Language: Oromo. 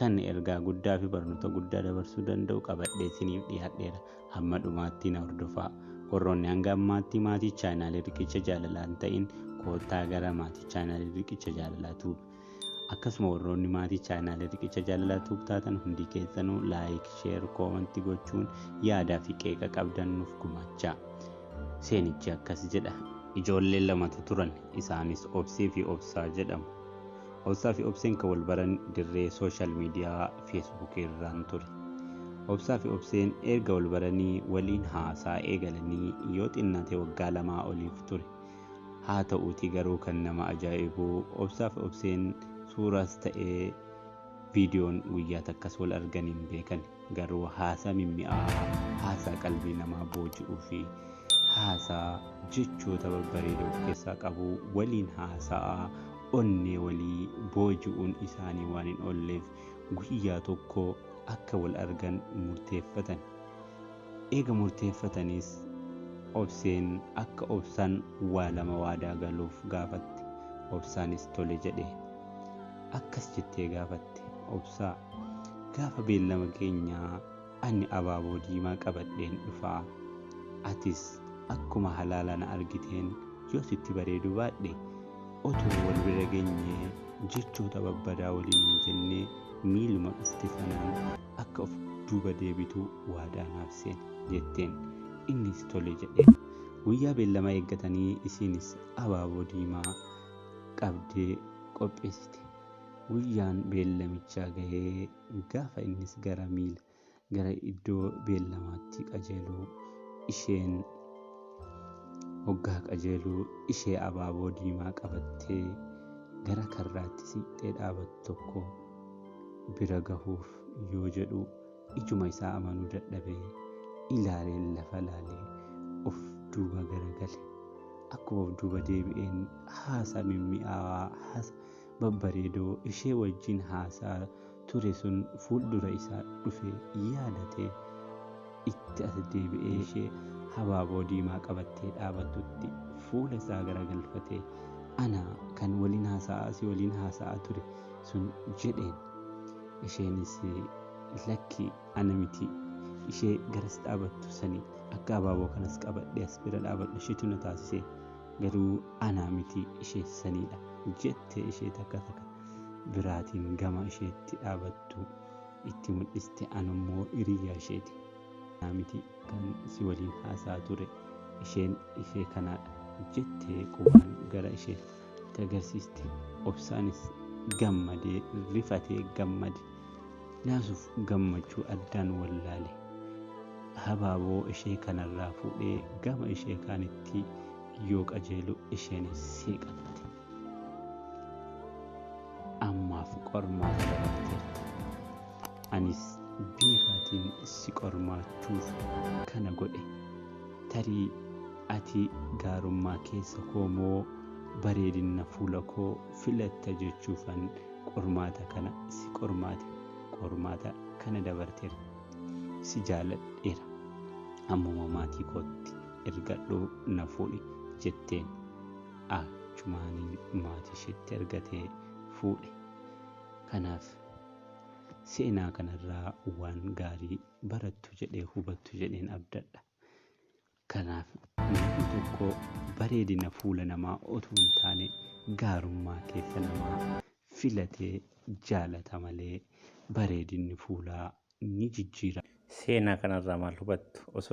kan ergaa guddaa fi barnoota guddaa dabarsuu danda'u qabadhee isiniif dhiyaadheera hamma dhumaatti na hordofaa warroonni hanga ammaatti maatii chaanaalii riqicha jaalalaan ta'in koottaa gara maatii chaanaalii riqicha jaalalaa tuub akkasuma warroonni maatii chaanaalii riqicha jaalalaa tuub taatan hundi keessanuu laayik sheer koomanti gochuun yaadaa fi qeeqa qabdan nuuf gumaachaa seenichi akkas jedha ijoollee lamatu turan isaanis obsii fi obsaa jedhamu Obsaa fi Obseen kan wal baran dirree sooshaal miidiyaa Feesbuuk irraan ture. Obsaa fi Obseen erga wal baranii waliin haasaa eegalanii yoo xinnaate waggaa lamaa oliif ture. Haa ta'uutii garuu kan nama ajaa'ibu Obsaa fi Obseen suuraas ta'ee viidiyoon guyyaa takkas wal arganii hin beekan. Garuu haasaa mimmi'aawaa, haasaa qalbii namaa booji'uu fi haasaa jechoota babbareeda of keessaa qabu waliin haasa'aa onnee walii booji'uun isaanii waan hin oolleef guyyaa tokko akka wal argan murteeffatan. Eega murteeffatanis Obseen akka Obsaan waa lama waadaa galuuf gaafatte. Obsaanis tole jedhe. akkas jettee gaafatte obsaa gaafa beellama keenyaa ani abaaboo diimaa qabadheen dhufaa atis akkuma halaala na argiteen yoo sitti bareedu baadhe otoo wal bira genyee jechoota babbadaa waliin hin jennee miiluma dhufte sanaan akka of duuba deebitu waadaa naaf seeni jetteen innis tole jedhee guyyaa beellama eeggatanii isiinis abaaboo diimaa qabdee qopheessite. Guyyaan beellamichaa gahee gaafa innis gara miila gara iddoo beellamaatti qajeelu isheen hoggaa qajeelu ishee abaaboo diimaa qabattee gara karraatti siqxee dhaabattu tokko bira gahuuf yoo jedhu ijuma isaa amanuu dadhabee ilaalee lafa laalee of duuba garagale akkuma of duuba deebi'een haasaa mimmi'aawaa haasa babbareedoo ishee wajjin haasaa ture sun fuuldura isaa dhufe yaadate itti as deebi'ee ishee habaaboo diimaa qabattee dhaabattutti fuula isaa garagalfatee ana kan waliin haasa'aa si waliin haasa'aa ture sun jedheen Isheenis lakki ana miti ishee garas dhaabattu sani akka abaaboo kanas qabadhee as bira dhaabadhu isheetu na taasise garuu anaa miti ishee saniidha jette ishee takka takka biraatiin gama isheetti dhaabattu itti mul'iste anummoo hiriyaa isheeti. Anaa miti kan si waliin haasaa ture isheen ishee kanaadha jettee qubaan gara ishee itti agarsiiste obsaanis gammadee rifatee gammade naasuuf gammachuu addaan wallaale habaaboo ishee kanarraa fuudhee gama ishee kaanitti yoo qajeelu isheen seeqatte ammaaf qormaata dabarteerta anis beekaatiin si qormaachuuf kana godhe tarii Ati gaarummaa keessa koo moo bareedinna fuula koo filatta jechuufan qormaata kana si qormaate. Qormaata kana dabarteera. Si jaaladheera. Ammuma maatii kootti ergadhu na fuudhi jetteen. Achumaaniin maatii isheetti ergatee fuudhe. Kanaaf seenaa kanarraa waan gaarii barattu jedhee hubattu jedheen abdadha. Kanaaf namni tokko bareedina fuula namaa otuu hin taane gaarummaa keessa namaa filatee jaalata malee bareedinni fuulaa ni jijjiirama. Seenaa kanarraa maal hubattu? Osoo